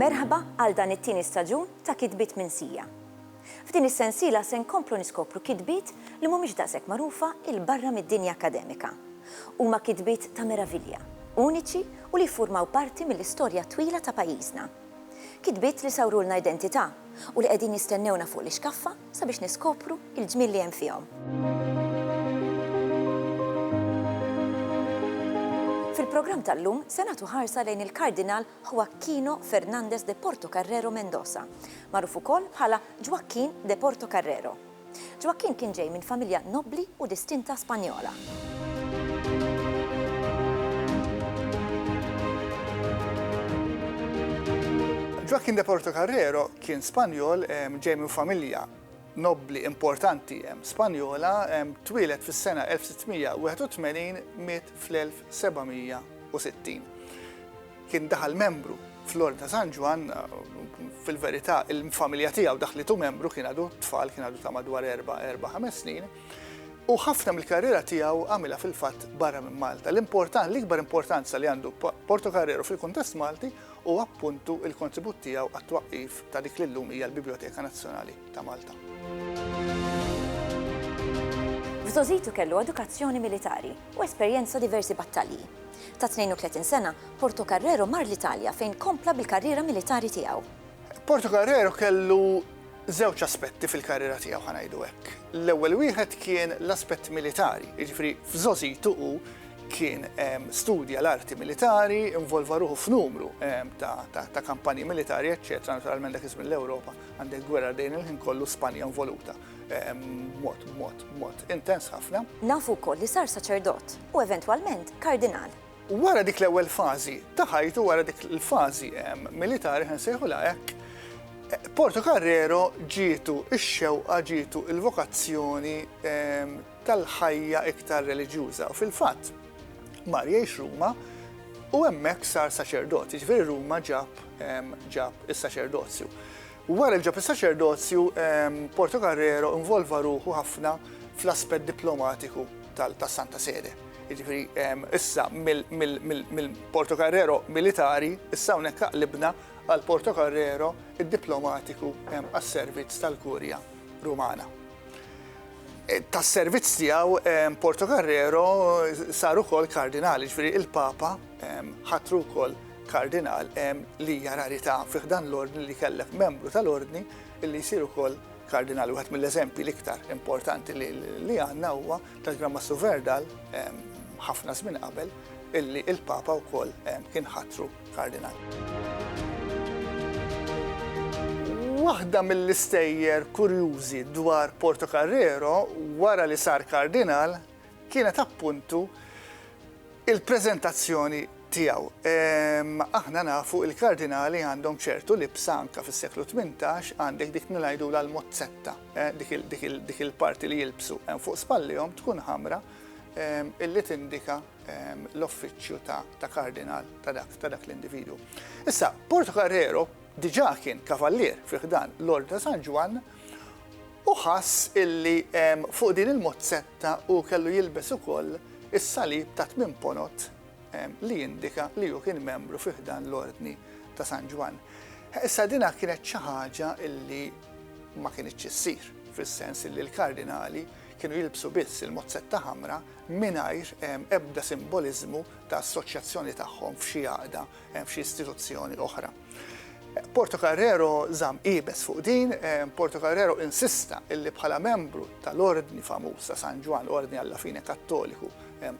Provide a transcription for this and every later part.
Merħba għal dan it-tieni staġun ta' Kitbiet minn Sija. F'din is-sensiela se nkomplu niskopru kitbiet li mhumiex daqshekk magħrufa il barra mid-dinja akkademika. Huma kitbiet ta' meravilja, uniċi u li jiffurmaw parti mill-istorja twila ta' pajjiżna. Kitbiet li sawrulna identità u li qegħdin jistennewna fuq l-ixkaffa sabiex niskopru l-ġmiel li hemm fihom. Fil-programm tal-lum se nagħtu ħarsa lejn il-Kardinal Joaquino Fernández de Portocarrero Mendoza, magħruf ukoll bħala Ġwakkin de Portocarrero. Ġwakkinn kien ġej minn familja nobbli u distinta Spanjola. Ġwakkinn de Portocarrero kien Spanjol ġej minn familja nobbli importanti Spanjola, twieled fis-sena 1681, miet fl-1760. Kien daħal membru fl-Ordni ta' San Ġwann, fil-verità il-familja tiegħu daħlitu membru kien għadu tfal, kien għadu ta' madwar erba', erba', ħames snin, u ħafna mill-karriera tiegħu għamilha fil-fatt barra minn Malta. L-importan, l-ikbar importanza li għandu Porto Carrero fil-kuntest Malti huwa appuntu il-kontribut tiegħu għat-twaqqif ta' dik li llum hija l-Biblioteka Nazzjonali ta' Malta. F'Żożitu kellu edukazzjoni militari u esperjenza diversi battalji. Ta' 32 sena, Portocarrero mar l-Italja fejn kompla bil-karriera militari tiegħu. Portocarrero kellu żewġ aspetti fil-karriera tiegħu, ħa ngħidu hekk. L-ewwel wieħed kien l-aspett militari, jiġifieri f'żgħożitu hu kien studja l-arti militari, involva ruħu f'numru ta' kampanji militari eċċetera, naturalment dak iż-żmien l-Ewropa għandek gwerra dejn il-ħin kollu, Spanja involuta. mod, mod, mod, intens ħafna. Nafu wkoll li sar saċerdot u eventwalment kardinal. Wara dik l-ewwel fażi ta' ħajtu, wara dik il-fażi militari ħan sejħu hekk, Porto Carrero ġietu x-xewqa ġietu il-vokazzjoni tal-ħajja iktar reliġjuża. U fil-fatt, mar jgħix Ruma u hemmhekk sar saċerdot, ġifieri Ruma ġab ġab is-saċerdozju. Wara li ġab is-saċerdozju, Portocarrero involva ruħu ħafna fl-aspett diplomatiku tas-Santa Sede. Jiġifieri issa mill-Portocarrero militari, issa hawnhekk aqlibna għal Portocarrero id-diplomatiku għas-servizz tal-Kurja Rumana. Tas-servizz tiegħu Portocarrero sar ukoll kardinal, jiġifieri l-Papa ħatru wkoll Kardinal hemm li hija rarità fi ħdan l-Ordni li jkellek membru tal-Ordni li jsir ukoll Kardinal. Wieħed mill-eżempji l-iktar importanti li għandna huwa tal-Gran Mastru Verdal ħafna żmien qabel illi il-Papa wkoll kien ħatru Kardinal. Waħda mill-istejjer kurjużi dwar Portocarrero wara li sar Kardinal kienet appuntu il-preżentazzjoni tiegħu. Aħna nafu il-kardinali għandhom ċertu libsa anka fis-seklu 18 għandek dik nilgħidula l-mozzetta, eh, dik il-parti li jilbsu eh, fuq spallihom tkun ħamra illi tindika l-offiċċju ta' kardinal ta' dak ta' dak l-individu. Issa, Porto Carrero diġà kien kavallier fiħdan l-Orda San Ġwan Hu ħass illi fuq din il-mozzetta hu kellu jilbes ukoll is-salib ta' tmien ponot li jindika li hu kien membru fi ħdan l-Ordni ta' San Ġwann. Issa dinha kienet xi ħaġa illi ma kinitx issir, fis-sens illi l-kardinali kienu jilbsu biss il-mozzetta ħamra mingħajr ebda simboliżmu ta' assoċjazzjoni tagħhom f'xi għaqda, f'xi istituzzjoni oħra. Portocarrero żamm iebes fuq din, Portocarrero insista illi bħala membru tal-ordni famuż ta' San Ġwann, ordni alla fine Kattoliku,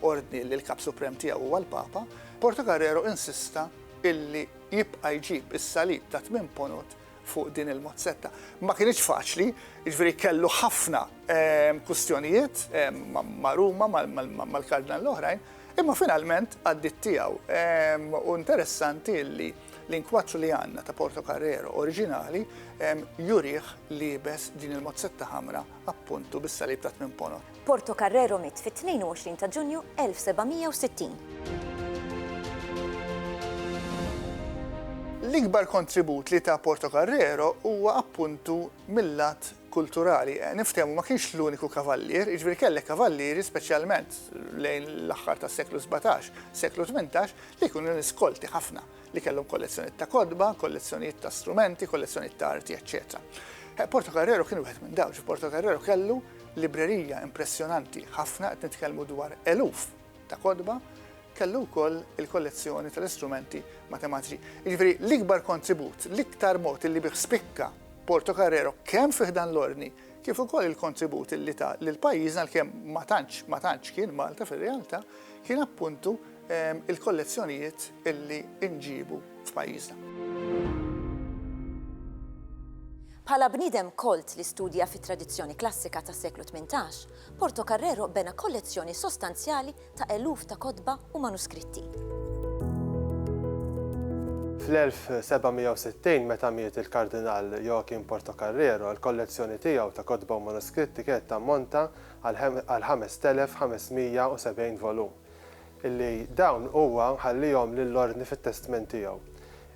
ordni li l-Kap Suprem tiegħu huwa l-Papa, Portocarrero insista illi jibqa' jġib is-salib ta' tmien ponot fuq din il-mozzetta. Ma kinitx faċli, jiġifieri kellu ħafna kwistjonijiet ma' Ruma, mal-Kardinal l-oħrajn, Imma finalment għaddiet tiegħu. U interessanti li l-inkwaċċ li għandna ta' Porto Carrero oriġinali jurih liebes din il-mozzetta ħamra appuntu bis-salib ta' tmien ponor. Porto Carrero miet fit-22 ta' Ġunju 1760. L-ikbar kontribut li ta Porto Carrero huwa appuntu mil-lat kulturali. Niftehmu, ma kienx l-uniku kavallier, jiġifieri kellek kavallieri speċjalment lejn l-aħħar tas-seklu sbatax, seklu tmintax, li kienu nies kolti ħafna, li kellhom kollezzjonijiet ta' kotba, kollezzjonijiet ta' strumenti, kollezzjonijiet ta' arti, eċċetera. Portocarrero kien wieħed minn dawn. Portocarrero kellu librerija impressjonanti ħafna, qed nitkellmu dwar eluf ta' kotba, kellu wkoll il-kollezzjoni tal-istrumenti matematiċi. Jiġifieri l-ikbar kontribut, l-iktar mod li bih spikka Porto Carrero kemm fi ħdan l-ordni kif ukoll il-kontribut li ta lil pajjiżna għalkemm ma tantx ma tantx kien Malta fir-realtà kien appuntu ehm, il-kollezzjonijiet illi nġibu f'pajjiżna. Bħala bniedem kolt li studja fit-tradizzjoni klassika tas-seklu 18, Portocarrero bena kollezzjoni sostanzjali ta' eluf ta' kotba u manuskritti. Fl-1760, meta miet il-Kardinal Joachim Portocarrero, il-kollezzjoni tiegħu ta' kotba u manuskritti kienet tammonta għal 5,570 volum, illi dawn huwa ħallihom lill-Ordni fit-testment tiegħu.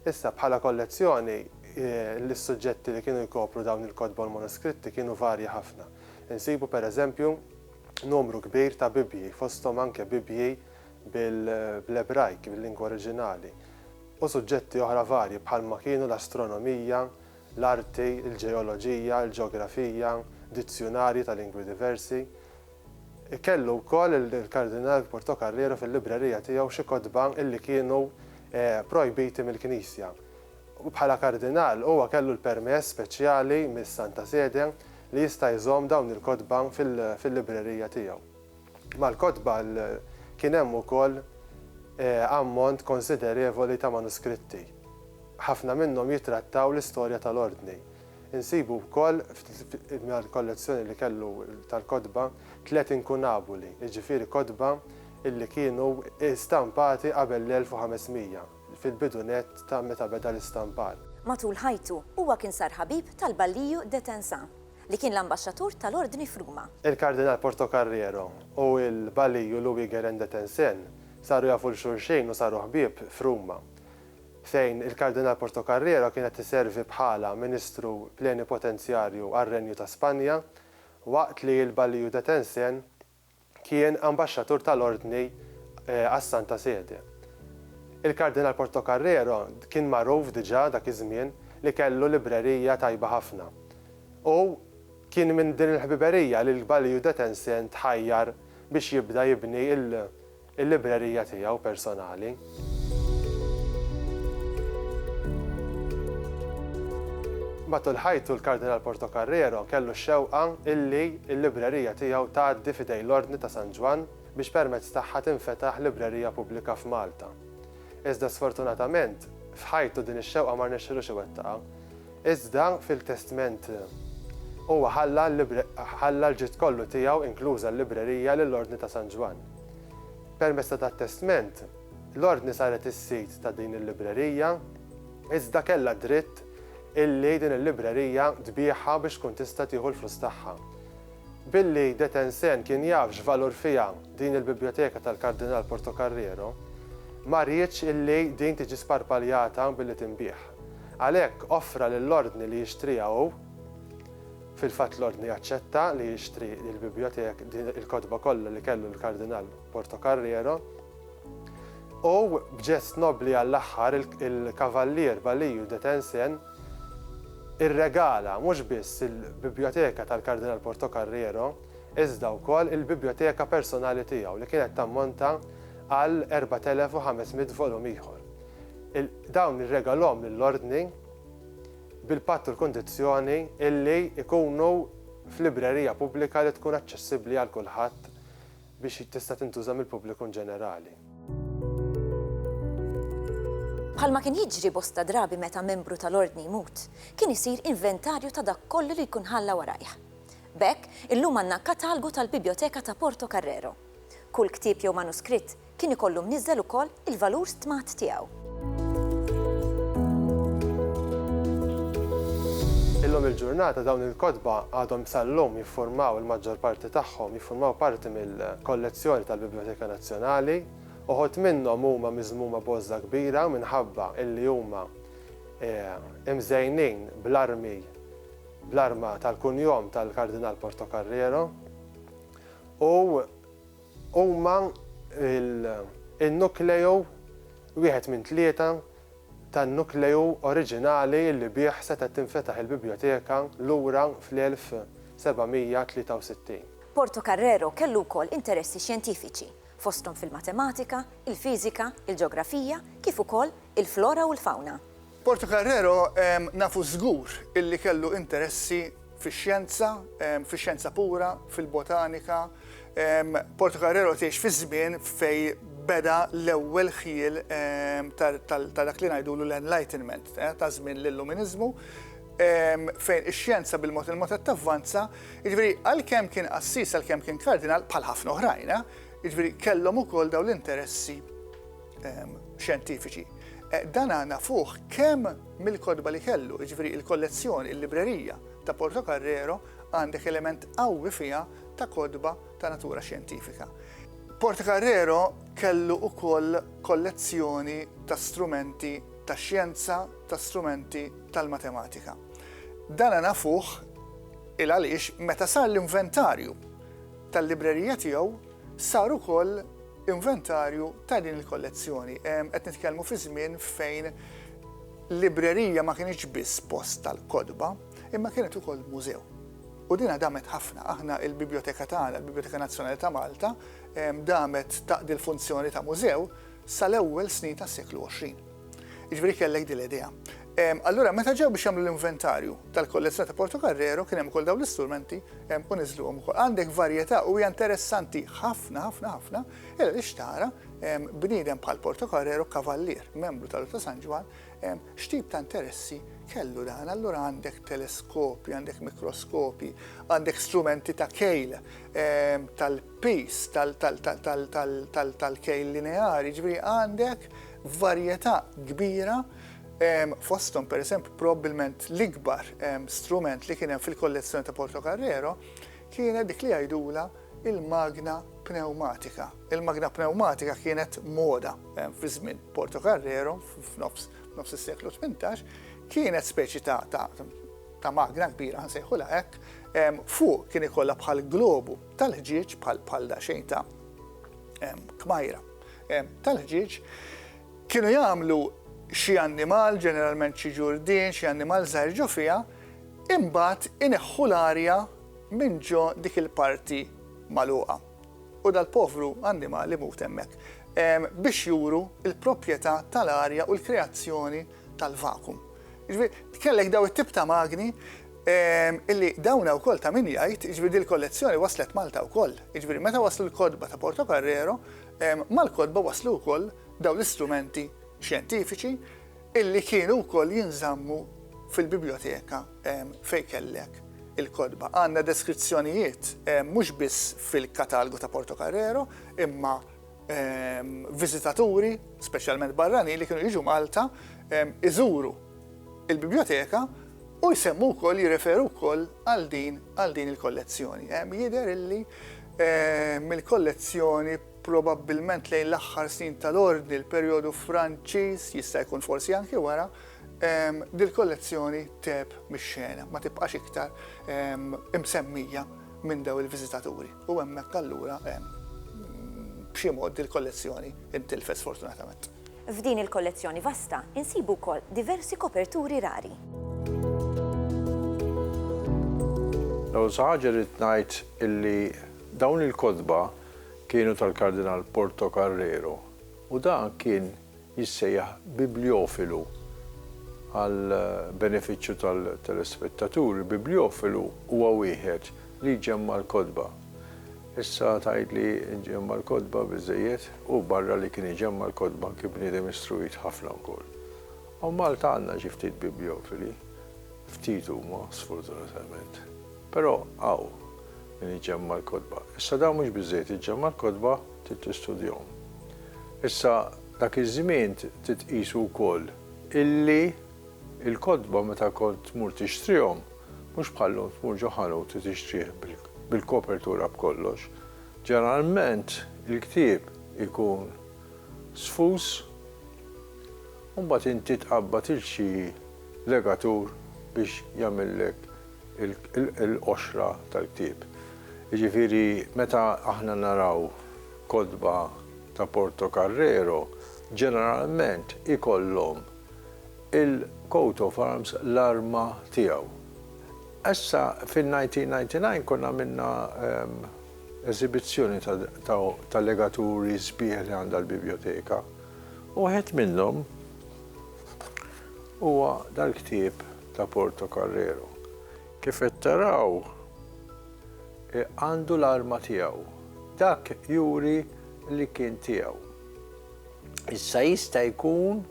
Issa, bħala kollezzjoni, is-suġġetti li kienu jkopru dawn il-kotba u l-manuskritti kienu varji ħafna. Insibu per eżempju numru kbir ta' Bibbji, fosthom anke Bibbji bl-Ebrajk, bil-lingwa oriġinali, u suġġetti oħra varji bħalma kienu l-astronomija, l-arti, il-ġeoloġija, il-ġeografija, dizzjunarji ta' lingwi diversi. Kellu wkoll il-Kardinal Portocarrero fil-librerija tiegħu xi kotba li kienu projbiti mill-Knisja, u bħala Kardinal huwa kellu l-permess speċjali mis-Santa Sede li jista' jżomm dawn il-kotba fil-librerija tiegħu. Mal-kotba kien hemm ukoll ammont konsiderevoli ta' manuskritti. Ħafna minnhom jittrattaw l-istorja tal-Ordni. Insibu wkoll mal-kollezzjoni li kellu tal-kotba tliet inkunabuli, jiġifieri kotba li kienu stampati qabel l-1500. fil-bidu nett ta' meta beda l-istampar. Matul ħajtu, huwa kien sar ħabib tal-Balliju de Tensà, li kien l-Ambaxxatur tal-Ordni f'Ruma. Il-Kardinal Portocarrero u l-Balliju Louis-Guérin de Tencin saru jafu 'l xulxejn u saru ħbieb f'Ruma, fejn il-Kardinal Portocarrero kien qed iservi bħala Ministru Plenipotenzjarju għar-Renju ta' Spanja, waqt li l-Balliju de Tencin, kien Ambaxxatur tal-Ordni għas-Santa Sede. Il-Kardinal Portocarrero kien magħruf diġà dak iż-żmien li kellu librerija tajba ħafna u kien minn din il-ħbiberija li l-Balliu Detense tħajjar biex jibda jibni il-librerija tiegħu personali. Matul ħajtu l-Kardinal Portocarrero kellu x-xewqa illi l-librerija tiegħu tgħaddi f'idejn l-Ordni ta' San Ġwann biex permezz tagħha tinfetaħ librerija pubblika f'Malta. Iżda sfortunatament, f'ħajtu din ix-xewqa ma rnexxilux iwettaqha. Iżda fil-testment huwa ħalla ħalla l-ġid kollu tiegħu inkluża l-librerija lill-Ordni ta' San Ġwann. Permezz ta' dat-testment, l-Ordni saret is-sid ta' din il-librerija iżda kellha dritt illi din il-librerija tbiegħha biex tkun tista' tieħu l-flus tagħha. Billi De Tencin kien jaf x'valur fiha din il-bibljoteka tal-Kardinal Portocarrero, ma riedx illi din tiġi sparpaljata billi tinbiegħ. Għalhekk offra lill-Ordni li jixtriha hu. Fil-fatt l-Ordni aċċetta li jixtri lill-Bibliothèque din il-kotba kollha li kellu l-Kardinal Portocarrero. U, b'ġest nobbli għall-aħħar, il-Kavallier Balliu de Tencin irregala mhux biss il-Biblioteka tal-Kardinal Portocarrero, iżda wkoll il-biblioteka personali tiegħu li kienet tammonta għal 4,500 volum ieħor. Dawn irregalhom lill-Ordni bil-patt u l-kundizzjoni illi jkunu f'librerija pubblika li tkun aċċessibbli għal kulħadd biex tista' tintuża mill-pubbliku inġenerali. Bħalma kien jiġri bosta drabi meta membru tal-Ordni jmut, kien isir inventarju ta' dak kollu li jkun ħalla warajh. B'hekk, illum għandna katalgu tal-Bibjoteka ta' Portocarrero. Kull ktieb jew manuskritt kien ikollu mniżżel ukoll il-valur stmat tiegħu. Illum il-ġurnata dawn il-kotba għadhom sal-lum jiffurmaw il-maġġor parti tagħhom jiffurmaw parti mill-kollezzjoni tal-Bibljoteka Nazzjonali. Uħud minnhom huma miżmuma b'għożża kbira minħabba illi huma imżejnin bl-armi bl-arma tal-kunjom tal-Kardinal Portocarrero. u huma l-nukleu wieħed minn tlieta tan-nukleu oriġinali li bih setgħet tinfetaħ il-Bibljoteka lura fl-1763. Portocarrero kellu wkoll interessi xjentifiċi, fosthom fil-matematika, il-fiżika, il-ġeografija, kif ukoll il-flora u l-fawna. Portocarrero nafu żgur illi kellu interessi fix-xjenza, fix-xjenza pura, fil-botanika. Portocarrero tgħix fiż-żmien fejn beda l-ewwel ħjiel ta' dak li ngħidulu l-Enlightenment, ta' żmien l-Illuminiżmu, fejn ix-xjenza bil-mod il-mod qed tavvanza. Jiġifieri għalkemm kien qassis, għalkemm kien kardinal, bħal ħafna oħrajn, jiġifieri kellhom ukoll dawn l-interessi. xjentifiċi. Eh, dan għana fuħ kem mill-kodba li kellu, ġveri il-kollezzjoni, il-librerija ta' Porto Carrero għandek element qawwi fija ta' kodba ta' natura xjentifika. Porto Carrero kellu u koll kollezzjoni ta' strumenti ta' xjenza, ta' strumenti tal-matematika. Dan għana fuħ il-għalix meta sar l-inventarju tal-librerija tiegħu saru koll inventarju ta' din il-kollezzjoni. Qed nitkellmu fi żmien fejn librerija ma kienx biss post tal-kotba, imma kienet ukoll mużew. U dina damet ħafna, aħna il-biblioteka tagħna, il-Biblioteka Nazzjonali ta' Malta, damet taqdi l-funzjoni ta' mużew sal-ewwel snin tas-seklu 20. Jiġifieri kellek din l-idea. Allura meta ġew biex jagħmlu l-inventarju tal-kollezzjoni ta' Portocarrero kien hemm ukoll dawn l-istrumenti u niżluhom ukoll. Għandek varjetà u hija interessanti ħafna ħafna ħafna illa li xtara bniedem bħal Portocarrero kavallier, membru tal-Ordni ta' San Ġwann, x'tip ta' interessi kellu dan. Allura għandek teleskopi, għandek mikroskopi, għandek strumenti ta' kejl tal-pis, tal-kejl lineari, ġifieri għandek varjetà kbira fosthom pereżempju probabbilment l-ikbar strument li kien hemm fil-kollezzjoni ta' Portocarrero kienet dik li jgħidulha il-magna pneumatika. Il-magna pneumatika kienet moda fi żmien Portocarrero f'nofs nofs is-seklu 18 kienet speċi ta' ta' ta' magna kbira nsejħulha hekk, fuq kien ikollha bħal globu tal-ħġieġ bħal bħal daxejn ta' kmajra. tal-ħġieġ, kienu jagħmlu xi annimal, ġeneralment xi ġurdien, xi annimal żgħir ġo fiha, imbagħad ineħħu l-arja minn ġo dik il-parti magħluqa. U dal-povru annimal imut hemmhekk. Biex juru l-proprjetà tal-arja u l-kreazzjoni tal-vakum. Jiġifieri kellek daw it-tip ta' magni illi dawna wkoll ta' min jgħid, jiġifieri din il-kollezzjoni waslet Malta wkoll. Jiġifieri meta waslu l-kotba ta' Portocarrero, mal-kotba waslu wkoll daw l-istrumenti xjentifiċi illi kienu wkoll jinżammu fil-bibljoteka fejn kellek il-kotba. Għandna deskrizzjonijiet mhux biss fil-katalgu ta' Portocarrero imma viżitaturi, speċjalment barranin li kienu jiġu Malta, iżuru il-biblioteka u jsemmu wkoll jirreferu wkoll għal din għal din il-kollezzjoni. Jidher illi mill-kollezzjoni probabbilment lejn l-aħħar snin tal-ordni l-perjodu Franċiż jista' jkun forsi anki wara dil-kollezzjoni teb mix-xena ma tibqax iktar imsemmija minn daw il-viżitaturi. U hemmhekk allura hemm b'xi mod din il-kollezzjoni intilfet sfortunatament. F'din il-kollezzjoni vasta insibu wkoll diversi koperturi rari. L-ewwel xi ħaġa rrid ngħid illi dawn il-kotba kienu tal-Kardinal Portocarrero u dan kien jissejjaħ bibljofilu għall-benefiċċju tal-telespettaturi, bibljofilu huwa wieħed li jġemma' l-kotba. Issa tgħid li jġemma' l-kotba biżżejjed? Hu barra li kien iġemma' l-kotba kien bniedem istruit ħafna wkoll. Hawn Malta għandna xi ftit bibliofili, ftit huma sfortunatament, però hawn min iġemma' l-kotba. Issa dan mhux biżżejjed iġemma' l-kotba, Trid tistudjahom. Issa, dak iż-żmien trid tqisu wkoll illi l-kotba meta kont tmur tixtrihom, mhux bħal llum tmur ġo ħanut u tixtrih bil-kopertura b'kollox. Ġeneralment il-ktieb ikun sfus u mbagħad inti tqabbad 'il xi legatur biex jagħmillek il-qoxra tal-ktieb. Jiġifieri meta aħna naraw kotba ta' Portocarrero, ġeneralment ikollhom il-coat of arms, l-arma tiegħu. Issa fin-1999 konna għamilna eżibizzjoni ta' legaturi sbieħ li għandha l-Bibljoteka u wieħed minnhom huwa dal-ktieb ta' Portocarrero. Kif qed taraw għandu l-arma tiegħu. Dak juri li kien tiegħu. Issa jista' jkun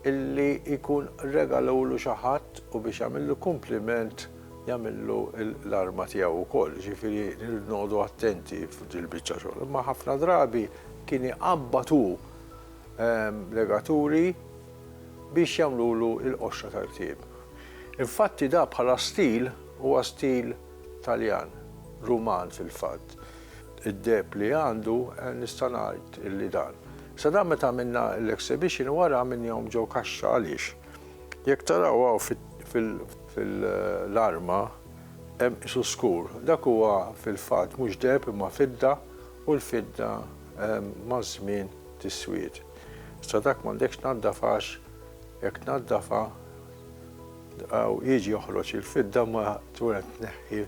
illi jkun regalawlu xi ħadd u biex jagħmillu kumpliment jagħmillu l-arma tiegħu wkoll. Jiġifieri rridu noqogħdu attenti f'dil-biċċa xogħol. Imma ħafna drabi kien iqabbad hu legaturi biex jagħmlulu l-qoxra tal-ktieb. Infatti da bħala stil huwa stil Taljan, Ruman fil-fatt. Id-deheb li għandu nista' ngħid illi dan. Sa dan meta għamilna l-exhibition wara għamilnihom ġew kaxxa għaliex jekk taraw hawn fil-arma hemm qisu skur. Dak huwa fil-fatt mhux deheb imma fidda u l-fidda maż-żmien tiswied. Issa dak m'għandekx tnaddaf għax jekk tnaddafha u jiġi joħroġ il-fidda ma tkun qed tneħħi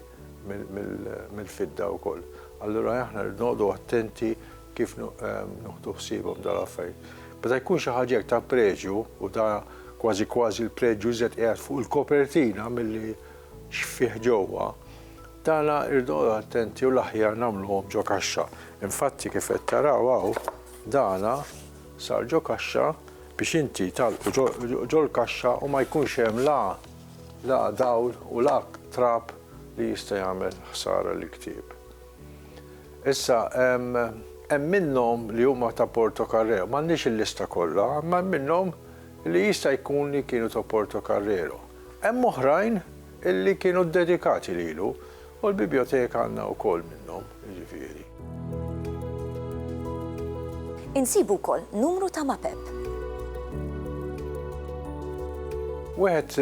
mill-fidda wkoll. Allura aħna rridu noqogħdu attenti kif nuħdu ħsiebhom dal-affarijiet. Meta jkun xi ħaġa ta' preġju u da kważi kważi l-preġju żed qiegħed fuq il-kopertina milli x'fih ġewwa, Tagħna irridu noqogħdu attenti u l-aħjar nagħmluhom ġo kaxxa. Infatti kif qed taraw hawn dana sar ġo kaxxa biex inti tagħlqu ġol-kaxxa u ma jkunx hemm la la dawl u la trab li jista' jagħmel ħsara lill-ktieb. Issa hemm hemm minnhom li huma ta' Porto Carrero, m'għandniex il-lista kollha, imma hemm minnhom li jista' jkun li kienu ta' Porto Carrero. Hemm oħrajn Illi kienu ddedikati lilu, u l-bibjoteka għandna wkoll minnhom, jiġifieri. Insibu wkoll numru ta' mapep. Wieħed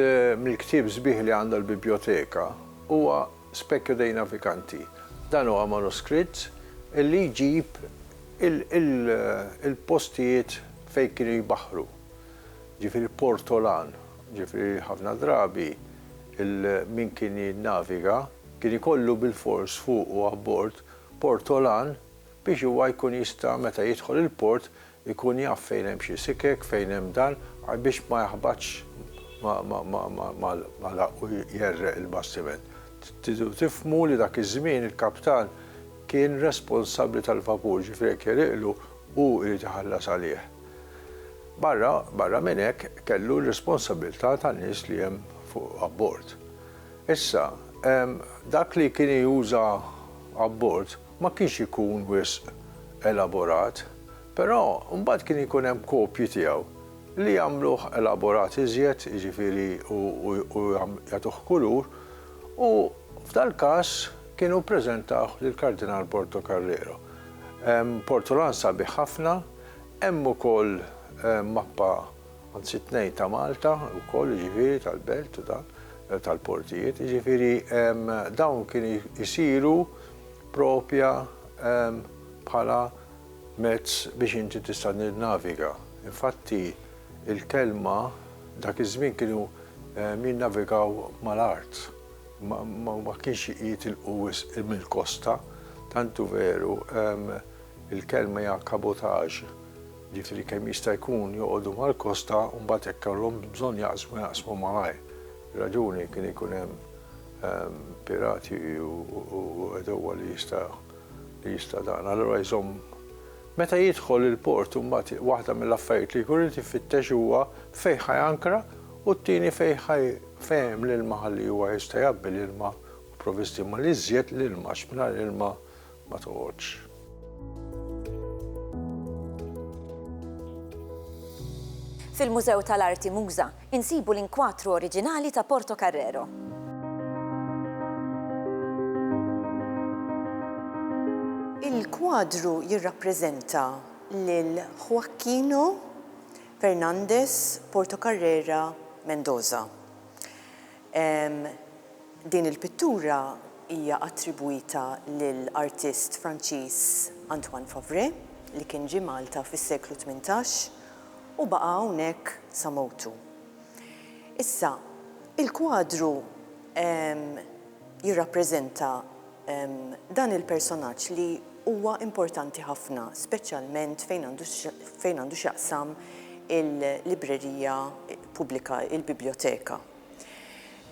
mill-ktieb sbieħ li għandha l-bibjoteka huwa Specchio dei Navicanti. Dan huwa manuskritt illi jġib il-postijiet fejn kienu jbaħħru, jiġifieri Portolan Ġifieri ħafna drabi min kien jinnaviga kien ikollu bilfors fuqu abbord portolan biex huwa jkun jista' meta jidħol il-port ikun jaf fejn hemm xi sikek, fejn hemm dan, biex ma jaħbatx mal-għarq u jgħerreq il-bastiment. Tridu tifhmu li dak iż-żmien il-kaptan kien responsabbli tal-vapur, ġifieri jekk jegħriqlu hu jrid iħallas għalih. Barra barra minn hekk kellu r-responsabilità tan-nies li hemm fuq abbord. Issa, dak li kien juża abbord ma kienx ikun wisq elaborat, però mbagħad kien ikun hemm kopji tiegħu li jagħmluh elaborat iżjed, jiġifieri u jagħtuh kulur, u f'dal-każ kienu ppreżentawh lill-Kardinal Portocarrero. Hemm portolan sabiħ ħafna Hemm ukoll mappa, anzi tnejn ta' Malta wkoll jiġifieri tal-belt u dan, tal-portijiet, jiġifieri dawn kienu jsiru propja bħala mezz biex inti tista' tinnaviga. Infatti l-kelma dak iż-żmien kienu jinnavigaw mal-art, ma kienx jitilqu wisq mill-kosta, tant hu veru Il-kelma hija kabotaġ, jiġifieri kemm jista' jkun joqogħdu mal-kosta u mbagħad jekk ikollhom bżonn jaqsmu jaqsmu malajr. Ir-raġuni kien ikun hemm pirati u għedewwa li jista' li jista' dan. Allura jżomm meta jidħol il-port u mbagħad waħda mill-affarijiet li jkun irid ifittex huwa fejn ħa jankra u t-tieni fejn ħa fejn hemm l-ilma ħalli huwa jista' jgħabbi l-ilma u provvisti. Imma l-iżjed l-ilma għax mingħajr ilma ma toqgħodx. Fil-Mużew tal-Arti Muża insibu l-inkwatru oriġinali ta' Portocarrero. Il-kwadru jirrappreżenta lil Joaquino Fernández Portocarrera Mendoza. Din il-pittura hija attribwita lil artist Franċiż Antoine Favré li kien ġie Malta fis-seklu tmintax u baqa' hawnhekk sa mewtu. Issa, il-kwadru jirrappreżenta dan il-personaġġ li huwa importanti ħafna, speċjalment fejn għandu fejn għandu x'jaqsam il-librerija pubblika, il-bibljoteka.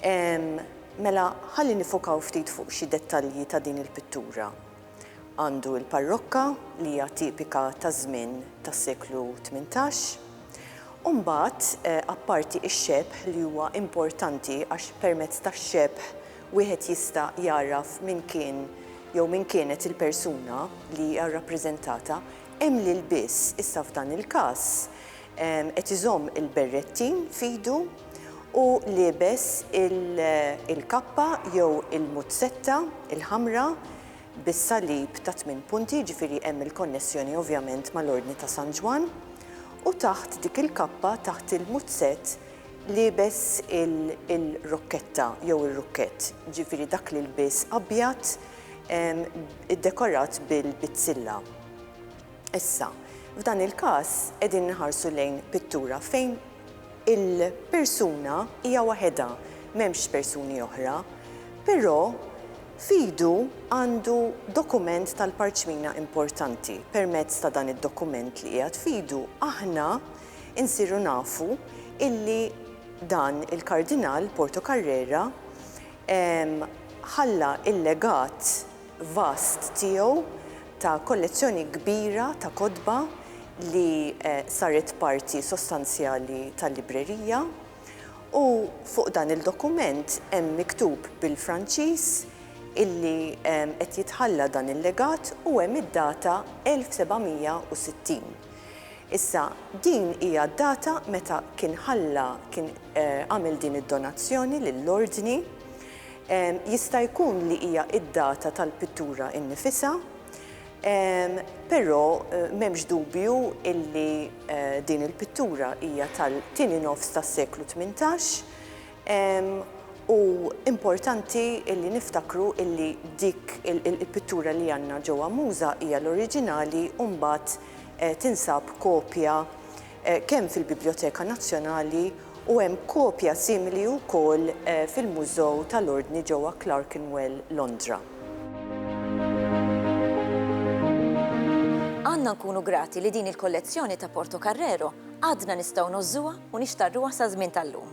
Ehm, mela ħalli nifokaw ftit fuq xi dettalji ta' din il-pittura. Għandu l-parrokka li hija tipika taż-żmien tas-seklu tmintax. U mbagħad, eh, apparti x-xebh li huwa importanti għax permezz tax-xebh wieħed jista' jagħraf min kien jew min kienet il-persuna li hija rrappreżentata, hemm l-ilbies, issa f'dan il-każ, Qed iżomm il-berrettin f'idu u liebes il-kappa jew il-muzzetta l-ħamra bis-salib ta' tmien punti, jiġifieri hemm il-konnessjoni ovvjament mal-Ordni ta' San Ġwann, u taħt dik il-kappa, taħt il-muzzett, liebes il-rokketta jew ir-rukkett, jiġifieri dak l-ilbies abjad iddekorat bil-bizzilla. Issa, f'dan il-każ qegħdin inħarsu lejn pittura fejn il-persuna hija waħedha, m'hemmx persuni oħra, però f'idu għandu dokument tal-parċmina importanti. Permezz ta' dan id-dokument li qiegħed f'idu aħna nsiru nafu illi dan il-Kardinal Portocarrera ħalla l-legat vast tiegħu ta' kollezzjoni kbira ta' kotba li saret parti sostanzjali tal-librerija u fuq dan il-dokument hemm miktub bil-Franċiż illi qed jitħalla dan il-legat u hemm id-data 1760. Issa, din hija d-data meta kien ħalla, kien għamel din id-donazzjoni lill-Ordni. Jista' jkun li hija d-data tal-pittura innifisha, però m'hemmx dubju illi din il-pittura hija tal-tieni nofs tas-seklu tmintax u importanti illi niftakru illi dik il-pittura li għandna ġewwa Muża hija l-oriġinali u mbagħad tinsab kopja kemm fil-Bibljoteka Nazzjonali u hemm kopja simili wkoll fil-Mużew tal-Ordni ġewwa Clerkenwell, Londra. Għandna nkunu grati li din il-kollezzjoni ta' Portocarrero għadna nistgħu ngħożżuha u nixtarruha saż-żmien tal-lum.